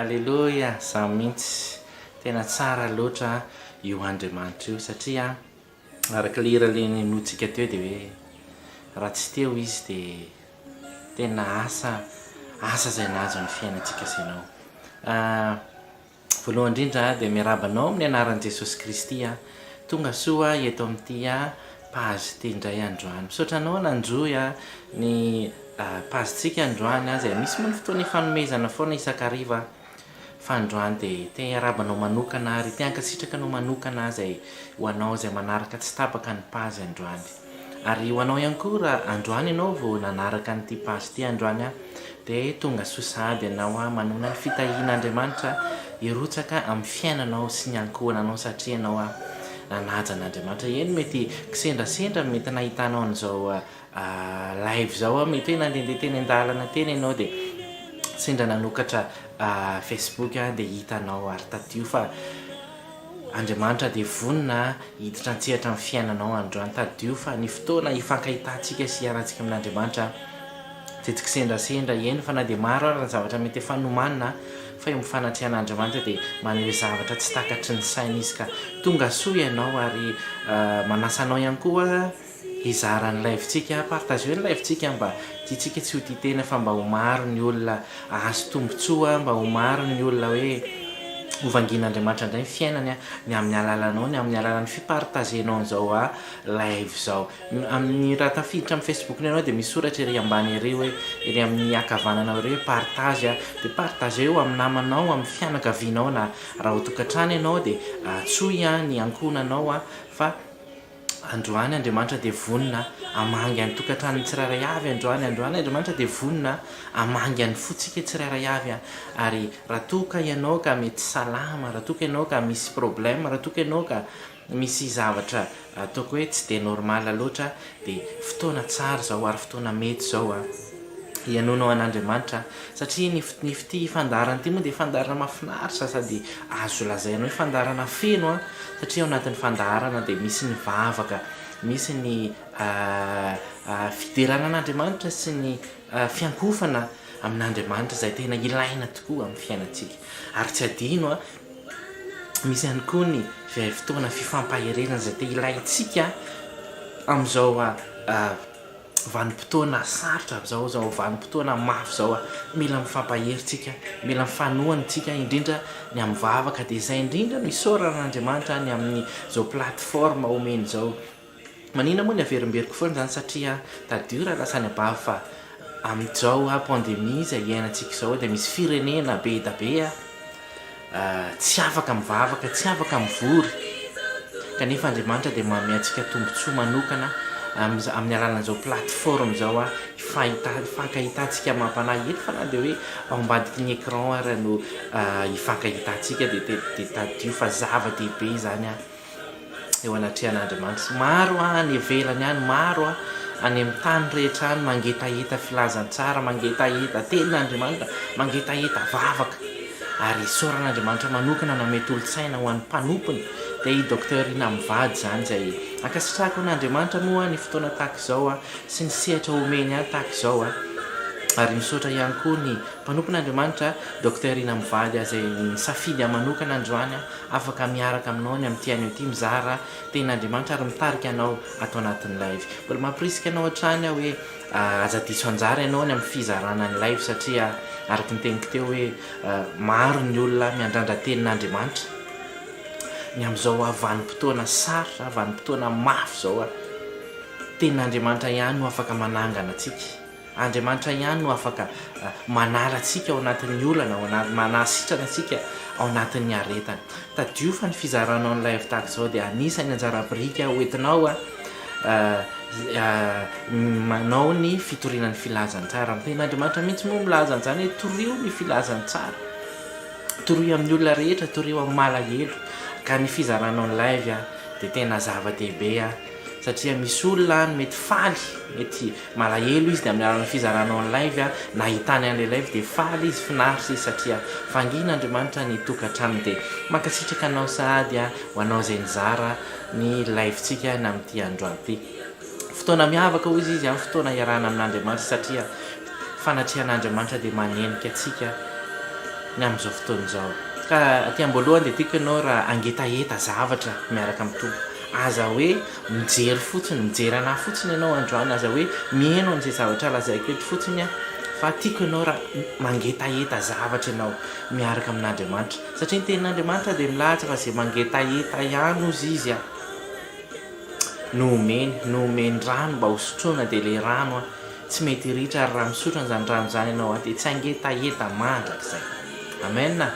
Aleloia, za mintsy, tena tsara loatra io Andriamanitra io satria Araka ilay hira le nenointsika teo dia hoe raha tsy teo izy dia tena asa asa izay nahazo ny fiainantsika sy ianao. Ah, voalohany indrindra dia miarahaba anao amin'ny anaran'i Jesosy Kristy aho. Tonga soa aho eto amin'ity page ity indray androany. Misaotra anao nanjohy ny page-tsika androany izay misy moa ny fotoana ifanomezana foana isan-kariva. Fa androany dia te hiarahaba anao manokana ary te hankasitraka anao manokana izay ho anao izay manaraka tsy tapaka ny page androany. Ary ho anao ihany koa raha androany ianao vao nanaraka an'ity page ity androany an, dia tonga soa sahady ianao an, manana ny fitahian'Andriamanitra hirotsaka amin'ny fiainanao sy ny ankohonanao satria ianao an, nanaja an'Andriamanitra. Eny mety kisendrasendra mety nahitanao an'izao live zao aho mety hoe nandehandeha teny an-dalana teny ianao dia sendra nanokatra facebook aho dia hita anao ary tadio fa Andriamanitra dia vonona hiditra an-tsehatra amin'ny fiainanao androany tadio fa ny fotoana hifankahitantsika sy hiarantsika amin'Andriamanitra dia tsy kisendrasendra eny fa na dia maro ary ny zavatra mety efa nomanina fa eo amin'ny fanatrehan'Andriamanitra dia maneho zavatra tsy takatry ny saina izy ka tonga soa ianao ary manasa anao ihany koa Hizara ny live-tsika, partageo ny live-tsika mba tiantsika tsy ho tia tena fa mba ho maro ny olona ahazo tombotsoa, mba ho maro ny olona hoe ho vangian'Andriamanitra indray ny fiainany ny amin'ny alalanao, ny amin'ny alalan'ny fi-partager-nao an'izao live izao. Amin'ny raha tafiditra amin'ny Facebook-nao ianao dia misy soratra ery ambany ery hoe, ery amin'ny ankavananao ery hoe partage dia partageo amin'ny namanao, amin'ny fianakavianao na raha ao an-tokantrano ianao dia antsoy ny ankohonanao fa Androany Andriamanitra dia vonona hamangy an'ny tokantranony tsirairay avy Androany Androany Andriamanitra dia vonona hamangy an'ny fontsika tsirairay avy Ary raha toa ka ianao ka mety salama Raha toa ka ianao ka misy problème Raha toa ka ianao ka misy zavatra ataoko hoe tsy dia normal loatra Dia fotoana tsara izao ary fotoana mety izao Henoinao an'Andriamanitra satria ny ity fandaharana ity moa dia fandaharana mahafinaritra sady azo lazaina hoe fandaharana feno an! satria ao anatin'ny fandaharana dia misy ny vavaka, misy ny fiderana an'Andriamanitra sy ny fiankofana amin'Andriamanitra izay tena ilaina tokoa amin'ny fiainantsika ary tsy adino an! misy ihany koa ny fotoana fifampaherezana izay tena ilaintsika amin'izao Vanim-potoana sarotra izao izao, vanim-potoana mafy izao, mila mifampahery tsika, mila mifanohana isika indrindra ny amin'ny vavaka dia izay indrindra no isaorana an'Andriamanitra ny amin'izao plateforme omeny izao, maninona moa ny averimberiko foana izany satria tadidio raha lasa any abavy fa amin'izao pandemie izay iainantsika izao dia misy firenena be dia be a! tsy afaka mivavaka, tsy afaka mivory, kanefa Andriamanitra dia manome antsika tombontsoa manokana amin'ny amin'ny alalan'izao plateforme izao a, fahita- hifankahitantsika amam-panahy eto fa na dia hoe ao ambadiky ny écran ara no hifankahitantsika dia te- dia tadidio fa zava-dehibe izany a. eo anatrehan'Andriamanitra. Maro any ivelany any, maro any amin'ny tany rehetra any mangetaheta filazantsara, mangetaheta tenin'Andriamanitra, mangetaheta vavaka. Ary isaoran'Andriamanitra manokana nanome tolo-tsaina ho an'ny mpanompony, dia i Docteur Rina mivady izany izay ankasitrahako an'Andriamanitra moa ny fotoana tahaka izao sy ny sehatra omeny ahy tahaka izao. Ary misaotra ihany koa ny mpanompon'Andriamanitra Docteur Rina mivady izay nisafidy ahy manokana androany. Afaka miaraka aminao ny amin'ity anio ity mizara tenin'Andriamanitra ary mitarika anao ato anatin'ny live. Mbola mampirisika anao hatrany aho hoe aza diso anjara ianao any amin'ny fizarana ny live satria araka ny teniko teo hoe maro ny olona miandrandra tenin'Andriamanitra ny amin'izao vanim-potoana sarotra, vanim-potoana mafy izao. Tenin'Andriamanitra ihany no afaka manangana antsika. Andriamanitra ihany no afaka manala antsika ao anatin'ny olana, manasitrana antsika ao anatin'ny aretana. Tadidio fa ny fizaranao ny live tahaka izao dia anisan'ny anjara biriky ho entinao manao ny fitoriana ny filazantsara. Ny tenin'Andriamanitra mihitsy moa milaza an'izany hoe torio ny filazantsara, torio amin'ny olona rehetra, torio amin'ny malahelo. Ka ny fizaranao ny live dia tena zava-dehibe satria misy olona any mety faly, mety Malahelo izy dia amin'ny alalan'ny fizarana ny live nahitany an'ilay live dia faly izy finaritra izy satria vangin' Andriamanitra ny tokantranony dia mankasitraka anao sahady ho anao izay nizara ny live tsika ny amin'ity androany ity fotoana miavaka hoy izy amin'ny fotoana hiarahana amin'Andriamanitra satria fanatrehana Andriamanitra dia manenika antsika ny amin'izao fotoana izao ka aty amboalohany dia tiako ianao raha angetaheta zavatra miaraka amin'ny Tompo aza hoe Mijery fotsiny, mijery an'ahy fotsiny ianao androany aza hoe miheno an'izay zavatra lazaiko eto fotsiny aho fa tiako ianao raha mangetaheta zavatra ianao miaraka amin'Andriamanitra satria ny tenin'Andriamanitra dia milaza fa izay mangetaheta ihany hozy izy a no omeny, no omeny rano mba hosotroina dia ilay rano a. Tsy mety hiritra ary raha misotro an'izany rano izany ianao dia tsy hangeta heta mandrakizay. Amen a!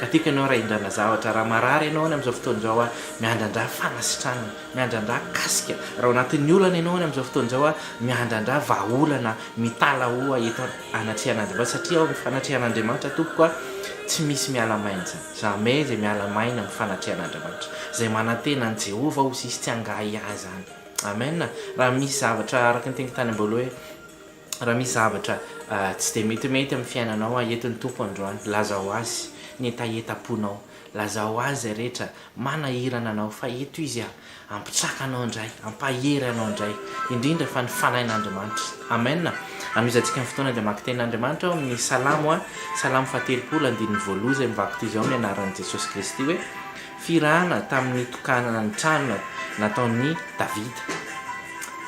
Ka tiako ianao raha hindrana zavatra, raha marary ianao any amin'izao fotoana izao a, miandrandrà fanasitranana, miandrandrà kasika, raha ao anatin'ny olana ianao any amin'izao fotoana izao a, miandrandrà vahaolana, mitalahoa eto anatrehan'Andriamanitra, satria ao amin'ny fanatrehan'Andriamanitra tompoko a, tsy misy miala maina izany, jamais izay miala maina amin'ny fanatrehan'Andriamanitra, izay manantena an'i Jehovah ho sisy tsy hangahy ahy izany. Amen raha misy zavatra araka ny teniko tany am-boalohany hoe raha misy zavatra tsy dia metimety amin'ny fiainanao a eto ny Tompo androany lazao Azy ny hetahetam-ponao lazao Azy izay rehetra manahirana anao fa eto Izy a hampitsaka anao indray hampahery anao indray indrindra fa ny fanahin'Andriamanitra Amen anohizantsika ny fotoana dia maka tenin'Andriamanitra ao amin'ny salamo a salamo fahatelopolo andininy voaloha izay mivakotizao ny anaran'i Jesosy Kristy hoe Firahana tamin'ny nitokanana ny trano nataon'i Davida.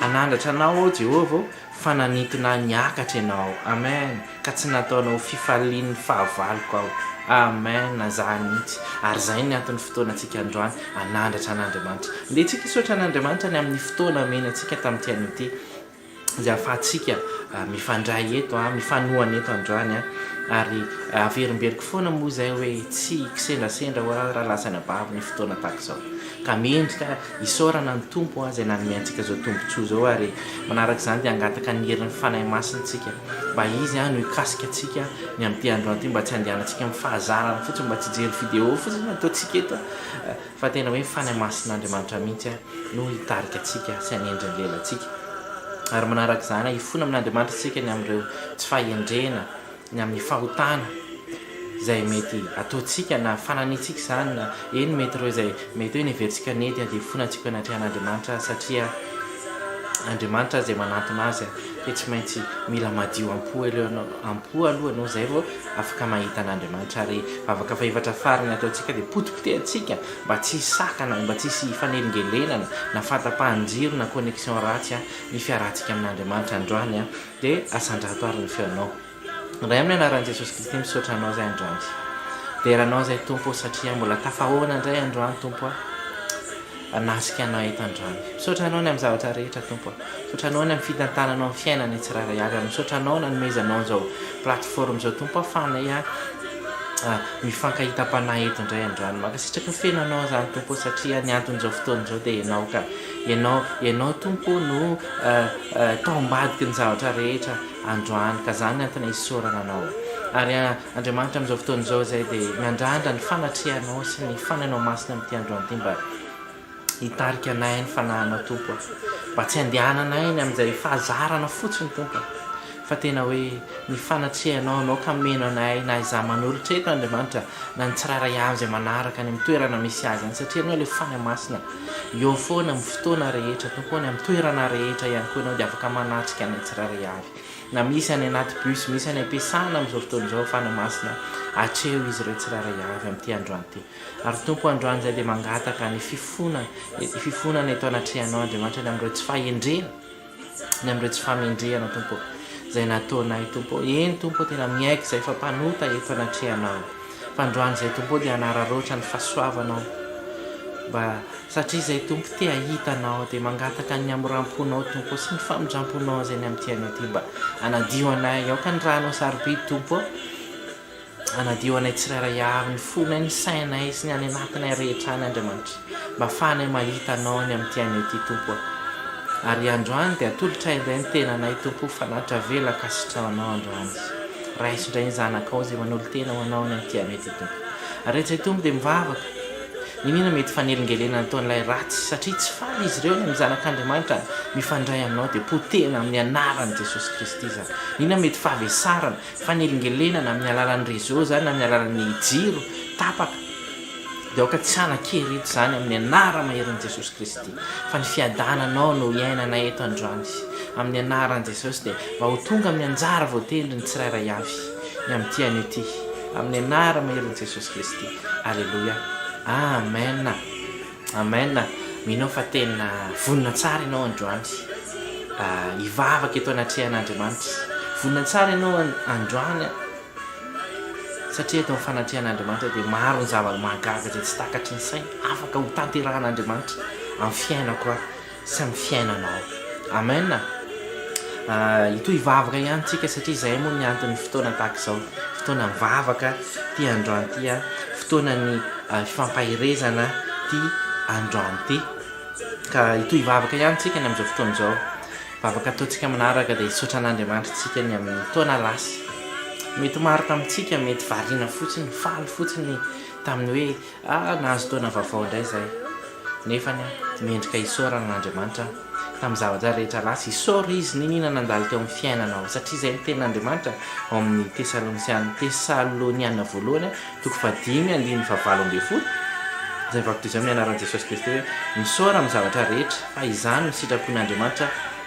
Hanandratra anao aho, Jehovah ô, fa nanintona ahy niakatra ianao. Amen! Ka tsy nataonao ho fifalian'ny fahavaloko aho. Amen! Za mihitsy. Ary izay ny anton'ny fotoanantsika androany, hanandratra an'Andriamanitra. Andeha tsika hisaotra an'Andriamanitra ny amin'ny fotoana omeny antsika tamin'ity anio ity. izay ahafahantsika mifandray eto, mifanohana eto androany, ary averimberiko foana moa izay hoe tsy hikisendrasendra ho'a raha lasa any am-bavy ny fotoana tahaka izao, ka mendrika isaorana ny Tompo izay nanome antsika izao tombontsoa izao, ary manaraka izany dia hangataka ny herin'ny Fanahy Masina isika mba Izy no hikasika antsika ny amin'ity androany ity mba tsy handehanantsika amin'ny fahazarana fotsiny, mba tsy hijery video fotsiny ny ataontsika eto. Fa tena hoe Fanahy Masin'Andriamanitra mihitsy no hitarika antsika sy hanendry ny lelantsika. Ary manaraka izany, hahifona amin'Andriamanitra isika ny amin'ireo tsy fahendrena, ny amin'ny fahotana izay mety ataontsika na fananitsika izany na eny mety ireo izay mety hoe neverintsika nety dia hifona antsika anatrehan'Andriamanitra satria Andriamanitra izay manantona azy dia tsy maintsy mila madio am-po aloha ianao izay vao Afaka mahita an'Andriamanitra ary vavaka fahefatra farany ataontsika dia potipotehantsika mba tsy hisy sakana, mba tsy hisy hifanelingelenana na fahatapahan-jiro na connexion ratsy ny fiarahantsika amin'Andriamanitra androany dia asandrato ary ny feonao Ray amin'ny anaran'i Jesosy Kristy misaotra anao zay androany dera anao zay Tompo satria mbola tafahaona indray androany Tompo a. Hanasika anao eto an-drano. Misaotra Anao ny amin'ny zavatra rehetra, Tompo a. Misaotra Anao ny amin'ny fitantananao ny fiainanay tsirairay avy, ary misaotra Anao nanomezanao an'izao plateforme izao, Tompo ahafahanay mifankahitam-panahy eto indray an-drano. Mankasitraka ny feno Anao izany, Tompo, satria ny anton'izao fotoana izao dia Ianao ka. Ianao, Ianao Tompo no taom-badiky ny zavatra rehetra androany, ka izany no antony isaorana Anao. Ary. Andriamanitra amin'izao fotoana izao izay dia miandrandra ny fanatrehanao sy ny fanahinao masina amin'ity androany ity mba hitarika anay ny fanahinao Tompo a! Mba tsy handehananay ny amin'izay fahazarana fotsiny Tompo a! Fa tena hoe ny fanatrehanao no hameno anay na izaho manolotra eto Andriamanitra na ny tsirairay avy izay manaraka any amin'ny toerana misy azy any satria Ianao ilay Fanahy Masina eo foana amin'ny fotoana rehetra Tompo o, any amin'ny toerana rehetra ihany koa Ianao dia afaka manatrika anay tsirairay avy na misy any anaty bus, misy any am-piasana amin'izao fotoana izao fanahy masina, atreho izy ireo tsirairay avy amin'ity androany ity. Ary Tompo o, androany izay dia mangataka ny fifona, ny fifonana eto anatrehanao Andriamanitra, ny amin'ireo tsy fahendrena, ny amin'ireo tsy famendrehana Tompo o, izay nataonay Tompo o, eny Tompo o, tena miaiky izay fa mpanota eto anatrehanao, fa androany izay Tompo o dia hanararaotra ny fahasoavanao, mba Satria izay Tompo te hahita anao dia mangataka ny hamoram-ponao Tompo sy ny famindram-ponao izay ny amin'ny tianao ity mba hanadio anay aoka ny ra anao sarobidy Tompo ô hanadio anay tsirairay avy ny fonay ny sainay sy ny any anatinay rehetra any Andriamanitra mba hafahanay mahita anao ny amin'ny tianao ity Tompo ô ary androany dia atolotray indray ny tenanay Tompo ho fanatitra avela ankasitraho anao androany raiso indray ny zanakao izay manolo-tena ho anao ny amin'ny tianao ity Tompo ary eto izay Tompo dia mivavaka Iniana mety fanelingelena nataon'ilay ratsy satria tsy faly izy ireo ny amin'ny Zanak'Andriamanitra mifandray aminao dia potehina amin'ny anaran'i Jesosy Kristy izany. Iniana mety fahavesarana, fanelingelena na amin'ny alalan'ny réseau izany na amin'ny alalan'ny jiro tapaka dia aoka tsy hanan-kery eto izany amin'ny anara maherin'i Jesosy Kristy fa ny fiadananao no hiainana eto androany amin'ny anaran'i Jesosy dia mba ho tonga amin'ny anjara voatendry ny tsirairay avy ny amin'ity anio ity amin'ny anara maherin'i Jesosy Kristy. Aleloia Amen Amen Mino aho fa tena vonona tsara ianao androany hivavaka eto anatrehan'Andriamanitra Vonona tsara ianao androany satria eto amin'ny fanatrehan'Andriamanitra dia maro ny zava-mahagaga izay tsy takatry ny saina afaka ho tanterahan'Andriamanitra amin'ny fiainako aho sy amin'ny fiainanao. Amen a! Hitohy hivavaka ihany tsika satria izay moa ny anton'ny fotoana tahaka izao, fotoana mivavaka ity androany ity a, fotoana ny fifampaherezana ity androany ity. Ka hitohy hivavaka ihany tsika ny amin'izao fotoana izao. Vavaka ataontsika manaraka dia hisaotra an'Andriamanitra tsika ny amin'ny taona lasa. Mety maro tamintsika mety variana fotsiny, faly fotsiny tamin'ny hoe Ah nahazo taona vaovao indray izay. Nefany aho mendrika hisaorana an'Andriamanitra aho tamin'ny zava-draha rehetra lasa. Isaoro Izy niniana nandalo teo amin'ny fiainanao. Satria izay ny tenin'Andriamanitra ao amin'ny Tesalonisiana, Tesaloniana voalohany a, toko fahadimy andininy fahavalo ambin'ny folo, izay vaky toy izao amin'ny anaran'i Jesosy Kristy hoe, Misaora amin'ny zavatra rehetra, fa izany no sitrapon'Andriamanitra,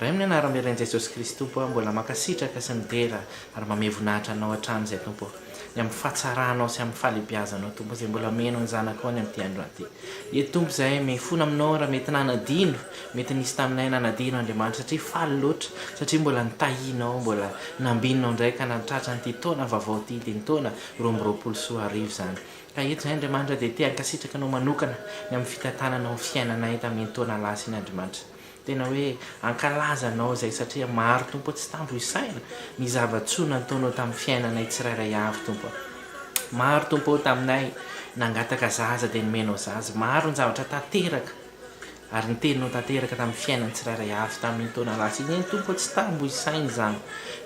Ray amin'ny anarany iray an'i Jesosy Kristy Tompo aho mbola mankasitraka sy midera ary mamehy voninahitra Anao hatrany izay Tompo ô! ny amin'ny fahatsaranao sy amin'ny fahalebiazanao Tompo izay mbola omena ny zanakao ny amin'ity andro ity ieto Tompo izahay mifona aminao raha mety nanadino mety nisy taminay nanadino Andriamanitra satria faly loatra satria mbola nitahianao mbola nambinao indray ka nahatratra an'ity taona vaovao ity dia ny taona roa amby roapolo sy roa arivo izany ka eto izay Andriamanitra dia te hankasitraka anao manokana ny amin'ny fitantananao ny fiainanay tamin'iny taona lasa iny Andriamanitra Tena hoe ankalaza anao izay satria maro Tompo tsy tambo isaina ny zava-tsoa nataonao tamin'ny fiainanay tsirairay avy Tompo a. Maro Tompo ô taminay nangataka zaza dia nomenao zaza, maro ny zavatra tanteraka ary ny teninao tanteraka tamin'ny fiainan'ny tsirairay avy tamin'iny taona lasa iny eny Tompo ô tsy tambo isaina izany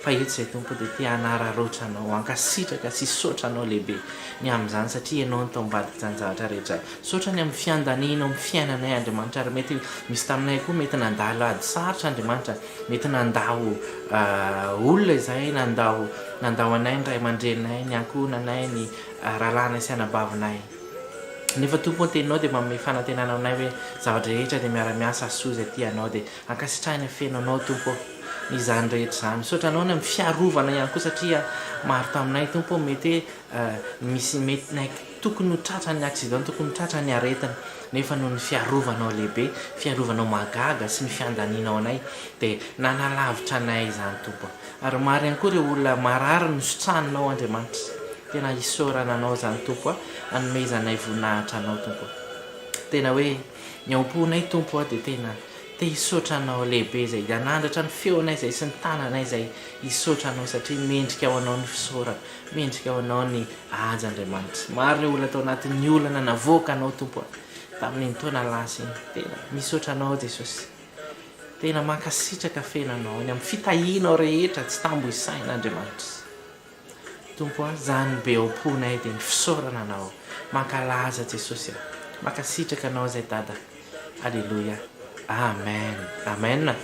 fa eto izay Tompo dia te hanararaotra anao, hankasitraka sy hisaotra anao lehibe ny amin'izany satria ianao no tao ambadik'izany zavatra rehetra Misaotra ny amin'ny fiandanianao amin'ny fiainanay Andriamanitra ary mety misy taminay koa mety nandalo ady sarotra Andriamanitra mety nandao olona izahay nandao nandao anay ny ray aman-dreninay ny ankohonanay ny rahalahinay sy anabavinay nefa Tompo ny teninao dia manome fanantenana aminay hoe zava-drehetra dia miara-miasa hasoa izay tianao dia ankasitrahina feno anao Tompo izany rehetra izany misaotra anao ny amin'ny fiarovana ihany koa satria maro taminay Tompo mety hoe misy mety Tokony ho tratran'ny accident, tokony ho tratran'ny aretina, nefa noho ny fiarovanao lehibe, fiarovanao mahagaga sy ny fiandanianao anay dia nanalavitra anay izany Tompo a. Ary maro ihany koa ireo olona marary nositranonao Andriamanitra. Tena isaorana anao izany Tompo a, anomezanay voninahitra anao Tompo a. Tena hoe ny ao am-ponay Tompo a dia tena te hisaotra anao lehibe izay nanandratra ny feonay izay sy ny tananay izay hisaotra anao satria mendrika ho anao ny fisaorana. Mendrika ho anao ny haja Andriamanitra. Maro ireo olona tao anatin'ny olana navoaka anao Tompo a! tamin'iny taona lasa iny. Tena misaotra anao Jesosy. Tena mankasitraka feno anao any amin'ny fitahianao rehetra tsy tambo isaina Andriamanitra. Tompo a! zany be ao am-ponay dia ny fisaorana anao. Mankalaza Jesosy a! Mankasitraka anao izay Dada. Aleloia. Amen. Amen.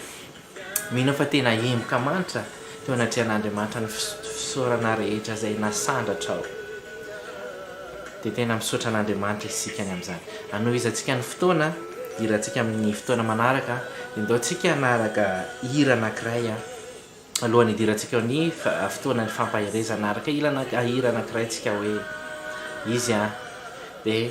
Mino fa tena hemoka manitra teo anatrehan'Andriamanitra ny fisaorana rehetra izay nasandratrao. Dia tena misaotra an'Andriamanitra isika ny amin'izany. Hanohizantsika ny fotoana hihirantsika amin'ny fotoana manaraka, dia ndao tsika hanaraka hira anankiray alohan'ny hidirantsika ao ny fotoanan'ny fampaherezana. Hanaraka hira anankiray tsika hoe izy dia.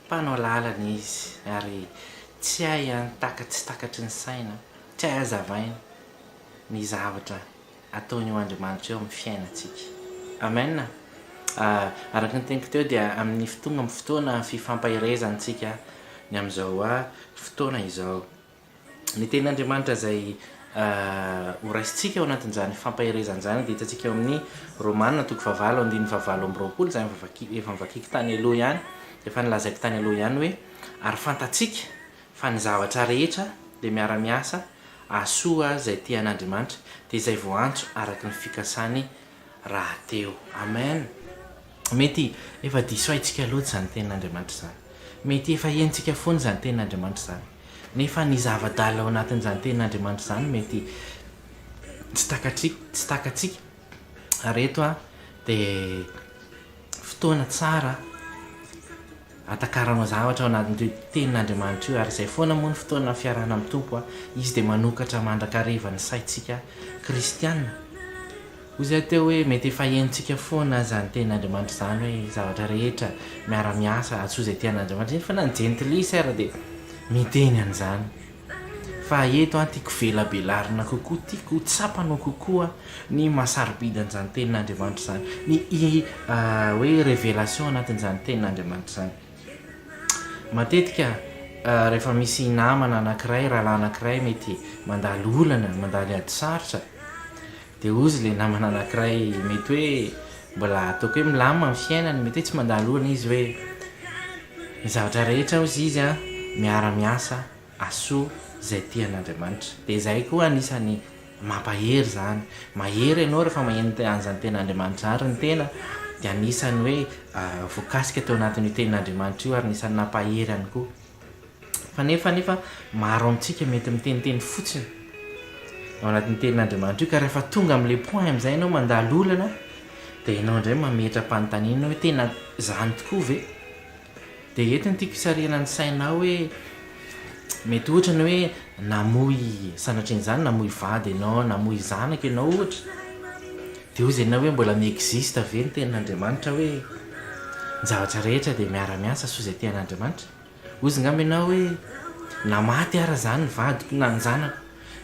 Mpanao lalana izy ary tsy hay ihany takatsy takatry ny saina, tsy hay hazavaina ny zavatra ataon'io Andriamanitra io amin'ny fiainantsika. Amen a! Araka ny teniko teo dia amin'ny tonga amin'ny fotoana fifampaherezantsika ny amin'izao fotoana izao. Ny tenin'Andriamanitra izay horaisintsika ao anatin'izany fampaherezana izany dia hitantsika ao amin'ny Romana toko fahavalo andininy fahavalo amby roapolo izay efa novakiako tany aloha ihany, efa nolazaiko tany aloha ihany hoe ary fantatsika fa ny zavatra rehetra dia miara-miasa ahasoa izay tia an'Andriamanitra, dia izay voantso araka ny fikasany rahateo. Amen. Mety efa diso haitsika loatra izany Tenin'Andriamanitra izany. Mety efa henontsika foana izany Tenin'Andriamanitra izany. Nefa ny zava-dalina ao anatin'izany Tenin'Andriamanitra izany mety tsy takatsika, takatsika. Ary eto dia fotoana tsara. Atakarama zavatra ao anatin'ireo Tenin'Andriamanitra io, ary izay foana moa ny fotoana fiarahana amin'ny Tompo, Izy dia manokatra mandrakariva ny saintsika kristiana. Hoy izahay teo hoe, Mety efa henontsika foana izany Tenin'Andriamanitra izany hoe zavatra rehetra miara-miasa, atsoa izay tian'Andriamanitra, nefa na ny jentilisa ara dia miteny an'izany. Fa eto an tiako velabelarina kokoa, tiako ho tsapana kokoa ny maha sarobidy an'izany tenin'Andriamanitra izany, ny hoe révélation anatin'izany tenin'Andriamanitra izany. Matetika rehefa misy namana anankiray, rahalahy anankiray mety mandalo olana, mandalo ady sarotra, Dia hozy ilay namana anankiray mety hoe mbola ataoko hoe milamina ny fiainany, mety hoe tsy mandalo orana izy hoe, Ny zavatra rehetra hozy izy an, miara miasa asoa izay tian' Andriamanitra. Dia izay koa anisany mampahery izany. Mahery ianao rehefa maheno an'izany tena Andriamanitra izany, ary ny tena dia anisany hoe voakasika teo anatin'io tenin' Andriamanitra io ary anisany nampahery ihany koa. Kanefa anefa maro amintsika mety miteniteny fotsiny ao anatin'ny tenin'Andriamanitra io ka rehefa tonga amin'ilay point amin'izay ianao mandalo olana dia ianao indray mametra-panontaniana hoe tena izany tokoa ve? Dia eto no tiako hisarihana ny sainao hoe mety ohatra ny hoe namoy sanatrian'izany namoy vady ianao, namoy zanaka ianao ohatra. Dia hoy Zena hoe mbola mi-existe ve ny tenin'Andriamanitra hoe ny zavatra rehetra dia miara-miasa soa izay tian'Andriamanitra? Hoy izy ngamba ianao hoe na maty ara izany ny vadiko na ny zanako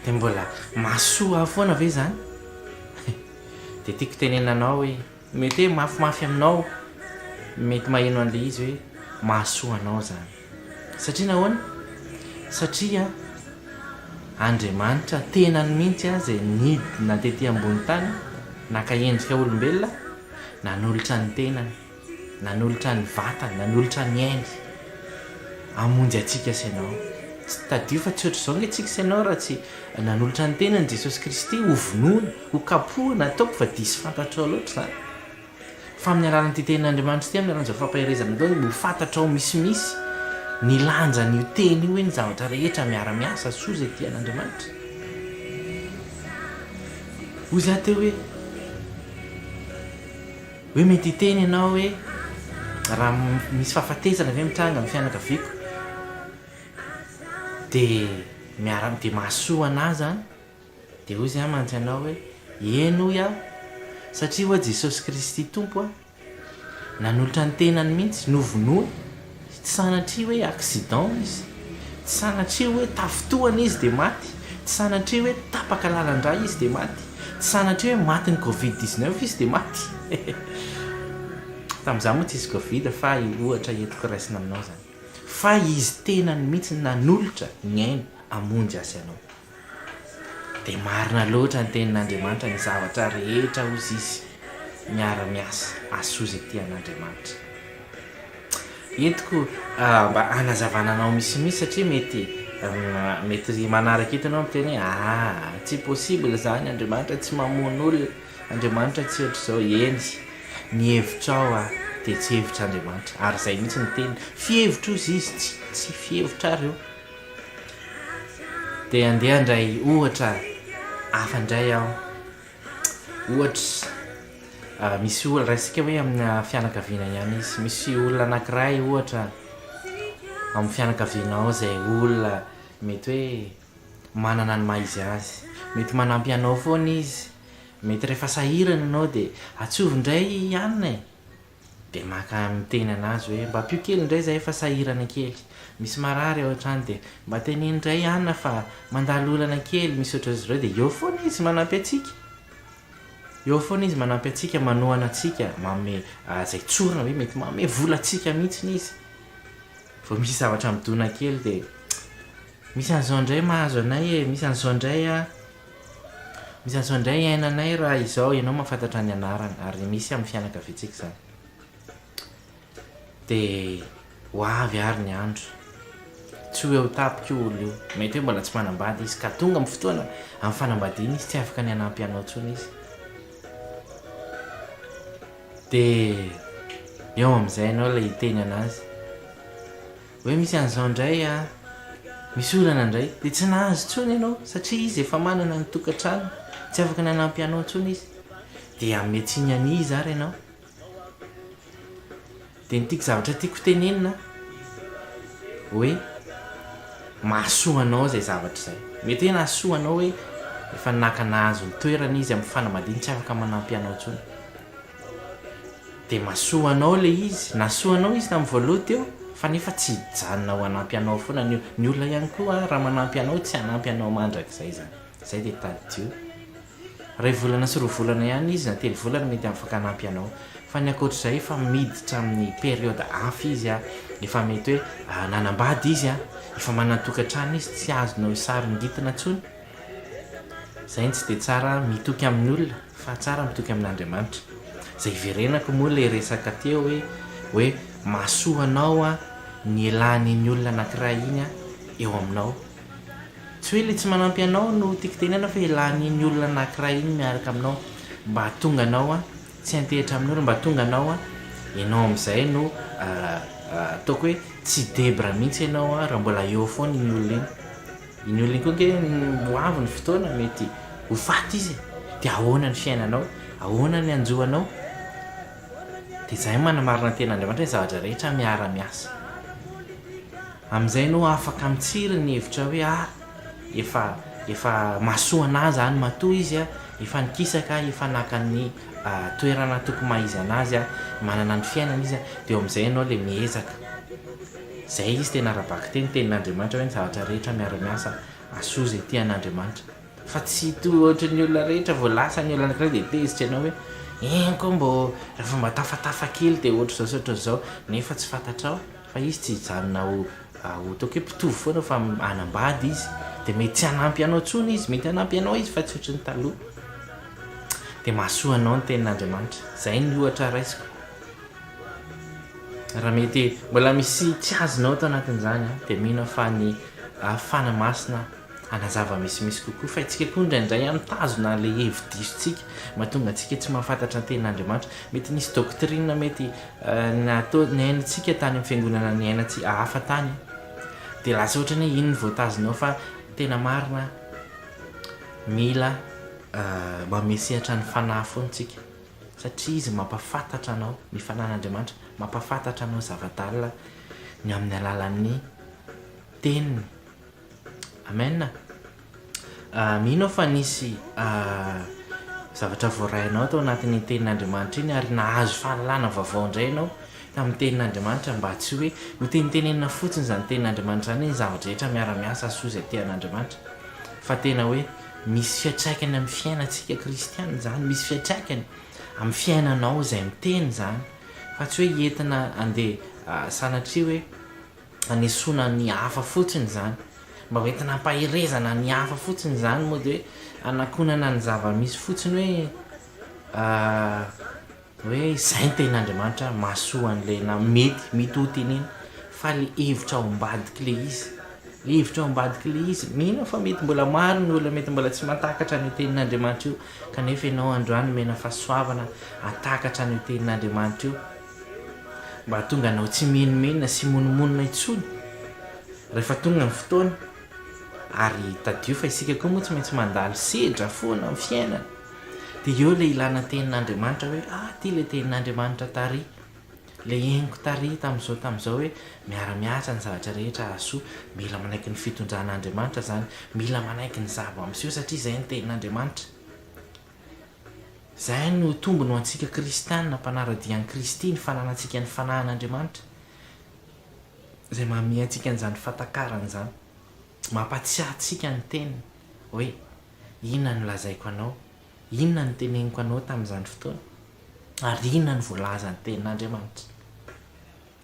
dia mbola mahasoa ahy foana ve izany? Dia tiako tenenina anao hoe mety hoe mafimafy aminao mety maheno an'ilay izy hoe mahasoa anao izany. Satria nahoana? Satria Andriamanitra tenany mihitsy izay nidina tetỳ ambony tany, naka endrika olombelona, nanolotra ny tenany, nanolotra ny vatany, nanolotra ny ainy, hamonjy antsika sy ianao. Tadidio fa tsy hoatr'izao ange isika sy ianao raha tsy nanolotra ny tenany Jesosy Kristy hovonoina, hokapohina, ataoko fa diso fantatrao loatra izany. Fa amin'ny alalan'ity tenin'Andriamanitra ity, amin'ny alalan'izao fampaherezana izao, dia ho fantatrao misimisy ny lanjan'io teny io hoe ny zavatra rehetra miara-miasa soa izay tian'Andriamanitra. Hoy za teo hoe, hoe mety hiteny ianao hoe raha misy fahafatesana ve mitranga amin'ny fianakaviako dia miara dia mahasoa anah zany? Dia hoy Izy mantsy anao hoe, Eny hoy aho, satria ho'a Jesosy Kristy Tompo aho. Nanolotra ny tenany mihitsy, novonoiny. Tsy sanatria hoe accident izy. Tsy sanatria hoe tafintohana izy dia maty. Tsy sanatria hoe tapaka lalan-drà izy dia maty. Tsy sanatria hoe matin'ny covid dix neuf izy dia maty. Tamin'izaho moa tsy hisy covid fa io ohatra entiko raisina aminao izany. Fa Izy tenany mihitsy nanolotra ny ainy hamonjy azy anao. Dia marina loatra ny tenin'Andriamanitra ny zavatra rehetra hozy izy miara-miasa asoa izay tian'Andriamanitra. Entiko mba hanazavana anao misimisy satria mety mety manaraka eto ianao miteny hoe ah tsy possible izany Andriamanitra tsy mamono olona Andriamanitra tsy ohatr'izao eny ny hevitrao ah dia tsy hevitr'Andriamanitra ary izay mihitsy ny teniny fihevitr'ozy izy tsy tsy fihevitrareo Dia andeha handray ohatra hafa indray aho. Ohatra, misy olona, raisika hoe amina fianakaviana ihany izy. Misy olona anankiray ohatra amin'ny fianakavianao izay olona mety hoe manana ny maha-izy azy. Mety manampy anao foana izy. Mety rehefa sahirana ianao dia, Antsovo indray i Anona e! Dia maka miteny anazy hoe mba ampio kely indray izahay fa sahirana kely. Misy marary ao an-trano dia mba teneno indray Anna fa mandalo olana kely, misy ohatran'izy ireo dia eo foana izy manampy antsika. Eo foana izy manampy antsika, manohana antsika, manome izay tsorina hoe mety manome vola antsika mihitsy izy. Vao misy zavatra midona kely dia misy an'izao indray mahazo anay e, misy an'izao indray an. Misy an'izao indray iainanay raha izao ianao mahafantatra ny anarany ary misy amin'ny fianakaviantsika izany. Dia ho avy ary ny andro. Tsy ho eo tampoka io olona io. Mety hoe mbola tsy manambady izy ka tonga amin'ny fotoana amin'ny fanambadiana izy tsy afaka ny hanampy anao intsony izy. Dia eo amin'izay ianao ilay hiteny an'azy. Hoe misy an'izao indray a, misy olana indray, dia tsy nahazo intsony ianao satria izy efa manana ny tokantrano, tsy afaka nanampy anao intsony izy, dia hanome tsiny an'iza ary ianao? Dia ny tiako, zavatra tiako hotenenina hoe mahasoa anao izay zavatra izay, mety hoe nahasoa anao hoe efa naka nahazo ny toerany izy amin'ny fanambadiany tsy afaka manampy anao intsony. dia mahasoa anao ilay izy, nahasoa anao izy tamin'ny voaloha teo fa nefa tsy hijanona ho hanampy anao foana ny olona, ny olona ihany koa ary raha manampy anao tsy hanampy anao mandrakizay izany, izay dia tadidio, iray volana sy roa volana ihany izy na telo volana mety afaka hanampy anao fa ny ankoatra izay efa miditra amin'ny période hafa izy an, efa mety hoe nanambady izy an, efa manan-tokantrano izy tsy azonao saringitina intsony. Zay no tsy dia tsara mitoky amin'ny olona fa tsara mitoky amin'Andriamanitra. Zay iverenako moa ilay resaka teo hoe hoe mahasoa anao ny elan'iny olona anankiray iny eo aminao. Tsy hoe ilay tsy manampy anao no tiako tenenana fa elan'iny olona anankiray iny miaraka aminao mba hahatonga anao tsy hantehitra amin'olona, mba hahatonga anao ianao amin'izay no ataoko hoe tsy debra mihitsy ianao raha mbola eo foana iny olona iny. Iny olona iny koa ange ho avy ny fotoana mety ho faty izy e! Dia ahoana ny fiainanao? Ahoana ny hanjo anao? Dia izahay no manamarina ny Tenin'Andriamanitra ny zavatra rehetra miara-miasa. Amin'izay ianao afaka mitsiry ny hevitrao hoe ah! efa efa mahasoana ahy izany matoa izy a! efa nikisaka aho, efa naka ny toerana tokony maha izy an'azy aho, manana ny fiainana izy a! dia eo amin'izay ianao ilay miezaka. Izay izy tena ara-bakiteny, tenin'Andriamanitra hoe ny zavatra rehetra miara-miasa hahasoa izay tia an'Andriamanitra. Fa tsy toa ohatry ny olona rehetra vao lasa ny olana anankiray dia tezitra ianao hoe eny koa mbô raha vao mba tafatafa kely dia ohatr'izao sy ohatr'izao nefa tsy fantatrao fa izy tsy hijanona ho ho toa ke mpitovo foana fa hanambady izy dia mety tsy hanampy anao intsony izy, mety hanampy anao izy fa tsy ohatry ny taloha. Dia mahasoa anao ny tenin'Andriamanitra. Izay ny ohatra raisiko. Raha mety mbola misy tsiazona ao ato anatin'izany an, dia mino aho fa ny Fanahy Masina hanazava misimisy kokoa, fa isika koa indraindray an mitazona ilay hevi-disontsika, mahatonga antsika tsy mahafantatra ny tenin'Andriamanitra, mety nisy doctrine mety natao niainantsika tany amin'ny fiangonana niainantsika hafa tany, dia lasa ohatra ny hoe iny no voatazonao fa tena marina mila mamehy sehatra ny Fanahy foana isika. Satria Izy mampahafantatra anao ny fananan'Andriamanitra, mampahafantatra anao zava-dalina ny amin'ny alalan'ny Teniny. Amen. Mino aho fa nisy zavatra voarainao tao anatin'iny Tenin'Andriamanitra iny ary nahazo fahalalana vaovao indray ianao tamin'ny Tenin'Andriamanitra mba tsy hoe hotenitenenina fotsiny izany Tenin'Andriamanitra izany ny zava-drehetra miara-miasa soa izay tian'Andriamanitra fa tena hoe Misy fiantraikany amin'ny fiainantsika kristiana izany, misy fiantraikany amin'ny fiainanao izay miteny izany, fa tsy hoe entina handeha sanatria hoe hanesoana ny hafa fotsiny izany, mba ho entina hampaherezana ny hafa fotsiny izany, mody hoe hanakonana ny zava-misy fotsiny hoe. Hoe izay ny tenin'Andriamanitra mahasoa an'ilay na mety mety ho tenena fa ilay hevitra ao ambadik'ilay izy ilay hevitra ao ambadik'ilay izy mino aho fa mety mbola maro ny olona mety mbola tsy mahatakatra an'io tenin'Andriamanitra io kanefa ianao androany omena fahasoavana hahatakatra an'io tenin'Andriamanitra io mba hahatonga anao tsy menomenona sy monomonona intsony rehefa tonga ny fotoana Ary tadidio fa isika koa moa tsy maintsy mandalo sedra foana amin'ny fiainana. Dia eo ilay ilana tenin'Andriamanitra hoe, ah, ity ilay tenin'Andriamanitra tary, ilay henoko tary tamin'izao tamin'izao hoe, miara-miasa ny zavatra rehetra hahasoa. Mila manaiky ny fitondran'Andriamanitra izany. Mila manaiky ny zava-miseho satria izay ny tenin'Andriamanitra. Izay no tombony ho antsika kristiana mpanara-dia an'i Kristy, ny fananantsika ny fanahin'Andriamanitra. izay mahamia antsika an'izany fatakarany izany, mampatsiahy antsika ny teniny hoe inona no lazaiko anao, inona no teneniko anao tamin'izany fotoana, ary inona no voalazan'ny tenin'Andriamanitra.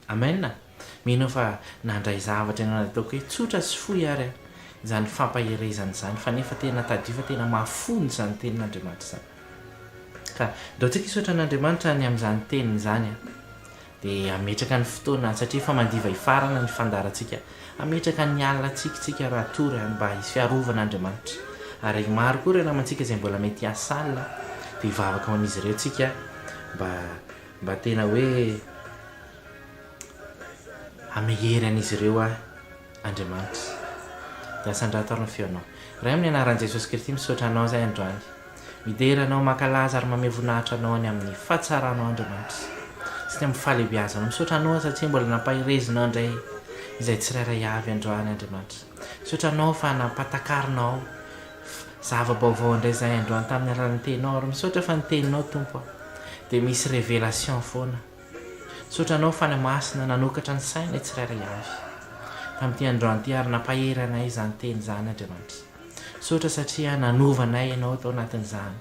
Amen. Mino aho fa nandray zavatra ianao na dia ataoko hoe tsotra sy fohy ary izany fampaherezana izany, fa nefa tena tadidio fa tena mahafono izany tenin'Andriamanitra izany. Ka andao antsika hisaotra an'Andriamanitra ny amin'izany teniny izany, Dia hametraka ny fotoana, satria efa mandiva hifarana ny fandaharantsika, hametraka ny alina tsiky tsika raha tory any mba hisy fiarovana Andriamanitra. Ary maro koa ireo namantsika izay mbola mety hiasa alina, dia hivavaka ho an'izy ireo tsika mba mba tena hoe hamehy hery an'izy ireo ahy. Andriamanitra. Dia asandrato ary ny feonao. Ray amin'ny anaran'i Jesosy Kristy misaotra Anao izahay androany. Midera Anao, mankalaza ary mamehy voninahitra Anao any amin'ny fahatsaranao Andriamanitra. Sy ny amin'ny fahalehibiazanao. Misaotra Anao satria mbola nampaherezinao indray izay tsirairay avy androany Andriamanitra. Misaotra Anao fa nampatakarinao zava-baovao indray izahay androany tamin'ny alalan'ny Teninao ary misaotra fa ny Teninao Tompo a. Dia misy révélation foana. Misaotra Anao Fanahy Masina nanokatra ny sain lay tsirairay avy tamin'ity androany ity ary nampahery anay izany teny izany Andriamanitra. Misaotra satria nanova anay Ianao tao anatin'izany.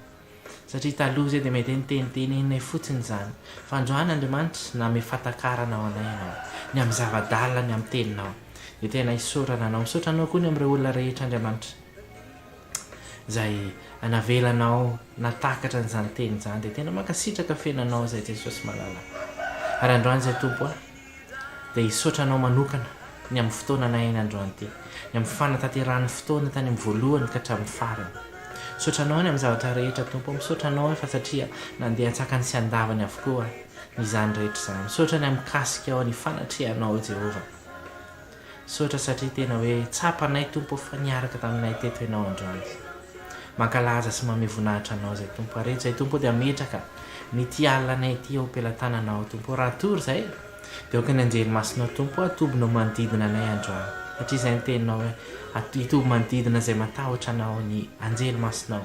Satria taloha izay dia mety hoe niteniteneninay fotsiny izany. Fa androany Andriamanitra nanome fatakaran ao anay Ianao. Ny amin'ny zava-dalina ny amin'ny teninao. Dia tena isaorana Anao. Misaotra Anao koa ny amin'ireo olona rehetra Andriamanitra. izay navelanao natakatra an'izany teny izany dia tena mankasitraka feno anao izay Jesosy malala ary androany izay Tompo ah dia hisaotra anao manokana ny amin'ny fotoana nahaina androany ty ny amin'ny fanatanterahan'ny fotoana tany amin'ny voalohany ka hatramin'ny farany misaotra anao any amin'ny zavatra rehetra Tompo misaotra anao efa satria nandeha antsakany sy andavany avokoa izany rehetra izany misaotra ny amin'ny kasika ao ny fanatrehanao Jehovah Misaotra satria tena hoe tsapanay Tompo ô fa niaraka taminay teto Ianao androany. Mankalaza sy mamehy voninahitra Anao izay Tompo ary eto izay Tompo ô dia ametraka n'ity alina anay ity eo am-pelatananao Tompo ô raha tory izay dia aoka ny anjely masinao Tompo ô atobinao manodidina anay androany satria izay ny teninao hoe hitoby manodidina izay matahotra Anao ny anjely masinao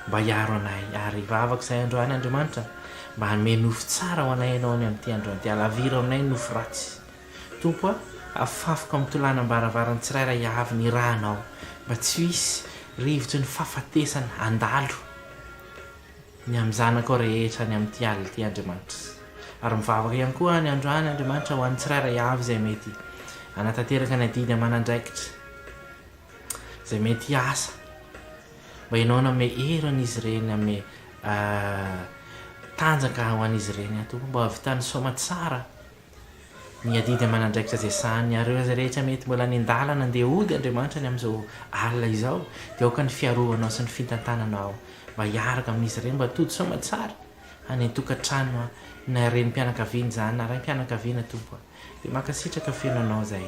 mba hiaro anay ary vavako izay androany Andriamanitra mba hanome nofo tsara ho anay Ianao any amin'ity androany dia alaviro aminay nofo ratsy Tompo a, afafiko amin'ny tolanam-baravaran'ny tsirairay avy ny Ranao, mba tsy ho hisy rivotry ny fahafatesana handalo ny amin'ny zanakao rehetra any amin'ity alina ity, Andriamanitra. Ary mivavaka ihany koa aho ny androany, Andriamanitra, ho an'ny tsirairay avy izay mety hanatanteraka ny adidy aman'andraikitra, izay mety hiasa, mba Ianao nanome hery an'izy ireny, nanome tanjaka ho an'izy ireny, Tompo, mba hahavitany soamatsara. Ny adidy aman'andraikitra izay sahanin'ny arreurs rehetra mety mbola any an-dalana handeha hody Andriamanitra ny amin'izao alina izao dia aoka ny fiarovanao sy ny fintantananao mba hiaraka amin'izy ireny mba tody soa aman-tsara any an-tokantrano na renim-pianakaviana izany na raim-pianakaviana Tompo a! dia mankasitraka feno anao izay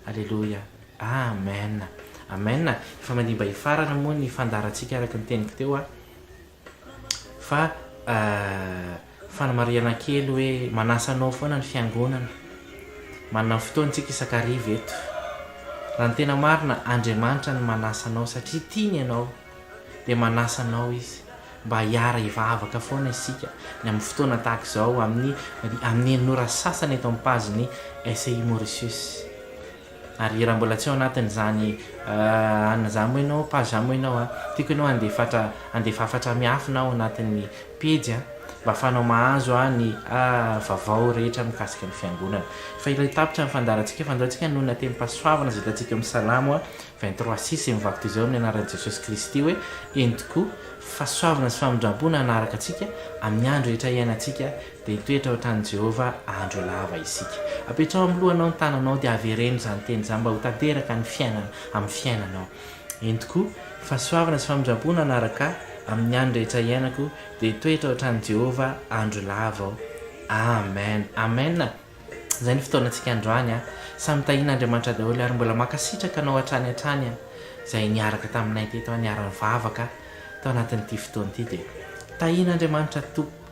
Aleloia Amen Amen efa mandimbà hifarana moa ny fandaharantsika araka ny teniko teo a! Fa fanamarihana kely hoe manasa anao foana ny fiangonana. Manana ny fotoany tsika isan-kariva eto. Raha ny tena marina, Andriamanitra no manasa anao satria tia ny anao. Dia manasa anao Izy mba hiara hivavaka foana isika ny amin'ny fotoana tahaka izao amin'ny amin'ny an'ny ora sasany eto amin'ny page ny SI Mauritius. Ary raha mbola tsy ao anatin'izany an za moa ianao page za moa ianao a, tiako ianao handefatra handefa hafatra miafina ao anatin'ny pejy an, mba afahanao mahazo an ny a vavao rehetra mikasika ny fiangonana. Fa ilay tapitra ny fandaharantsika fa andao tsika hanao ny latenim-pahasoavana izay hitantsika ao amin'ny salamo an, vingt trois six izay mivaky toy izao amin'ny anaran'i Jesosy Kristy hoe eny tokoa fahasoavana sy famindrampo no hanaraka antsika amin'ny andro rehetra iainantsika Dia hitoetra ao an-tranon'i Jehovah andro lava isika. Apetraho amin'ny lohanao ny tananao, dia avereno izany teny izany mba ho tanteraka ny fiainana amin'ny fiainanao. Eny tokoa, fahasoavana sy famindram-po no hanaraka ahy amin'ny andro rehetra hiainako, dia hitoetra ao an-tranon'i Jehovah andro lava aho. Amen! Amen! Izay ny fotoanantsika androany an! Samy tahian'Andriamanitra daholo ary mbola mankasitraka anao hatrany hatrany an! Izay niaraka taminay teto an, niara-nivavaka tao anatin'ity fotoana ity dia tahian'Andriamanitra Tompo.